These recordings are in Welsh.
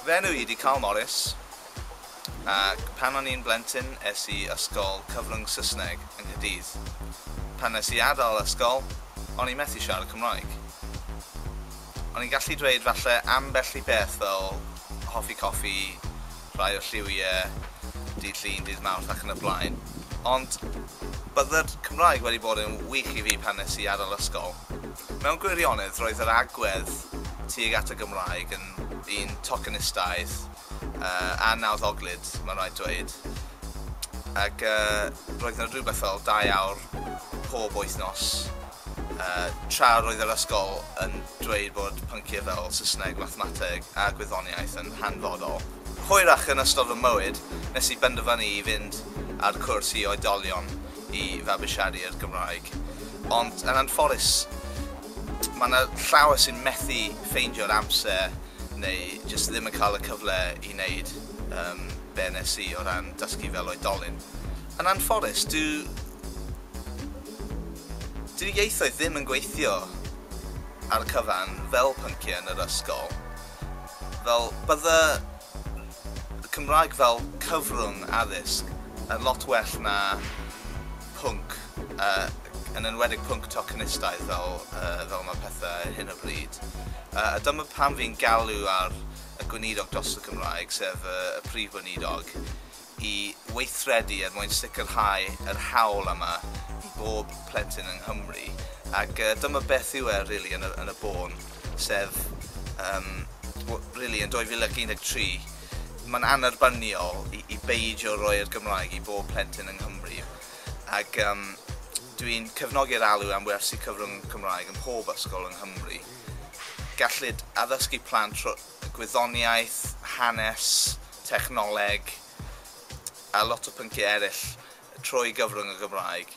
Fy enw i ydi Carl Morris, ac pan o'n i'n blentyn es i ysgol cyfrwng Saesneg yng Nghaerdydd. Pan nes i adael ysgol, o'n i methu siarad Cymraeg. O'n i'n gallu dweud falle ambell i beth fel hoffi coffi, rhai o'r lliwie, dydd Llun, dydd Mawrth ac yn y blaen. Ond bydded Cymraeg wedi bod yn wych i fi pan nes i adael ysgol. Mewn gwirionedd roedd yr agwedd tuag at y Gymraeg yn un tocenistaidd a nawddoglyd mae'n rhaid dweud ac roedd 'na rhywbeth fel dau awr pob wythnos Tra roedd yr ysgol yn dweud bod pynciau fel Saesneg, Mathemateg a Gwyddoniaeth yn hanfodol, hwyrach yn ystod fy mywyd, nes i benderfynu i fynd ar cwrs i oedolion i fabwysiadu'r Gymraeg. Ond yn anffodus, mae 'na llawer sy'n methu ffeindio'r amser neu jyst ddim yn cael y cyfle i wneud be wnes i o ran dysgu fel oedolyn. Yn anffodus, dyw Dyw ieithoedd ddim yn gweithio ar y cyfan fel pynciau yn yr ysgol. Fel, bydde y Cymraeg fel cyfrwng addysg yn lot well na pwnc, yn enwedig pwnc tocenistaidd fel fel mae pethau ar hyn o bryd. A dyma pam fi'n galw ar y Gweinidog dros y Gymraeg, sef y Prif Weinidog, i weithredu er mwyn sicrhau yr hawl yma i bob plentyn yng Nghymru ac dyma beth yw e rili yn y yn y bôn sef yym w- rili yn 2013 mae'n annerbyniol i i beidio roi'r Gymraeg i bob plentyn yng Nghymru ac yym dwi'n cefnogi'r alw am wersi cyfrwng Cymraeg ym mhob ysgol yng Nghymru. Gellid addysgu plant rho- gwyddoniaeth, hanes, technoleg a lot o pynciau eraill trwy gyfrwng y Gymraeg.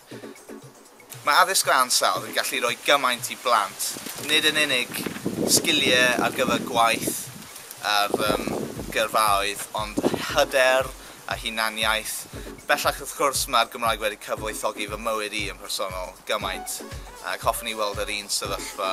Mae addysg o ansawdd yn gallu rhoi gymaint i blant, nid yn unig sgiliau ar gyfer gwaith ar um, gyrfaoedd, ond hyder a hunaniaeth. Bellach wrth gwrs mae'r Gymraeg wedi cyfoethogi fy mywyd i yn personol gymaint ac hoffwn i weld yr un sefyllfa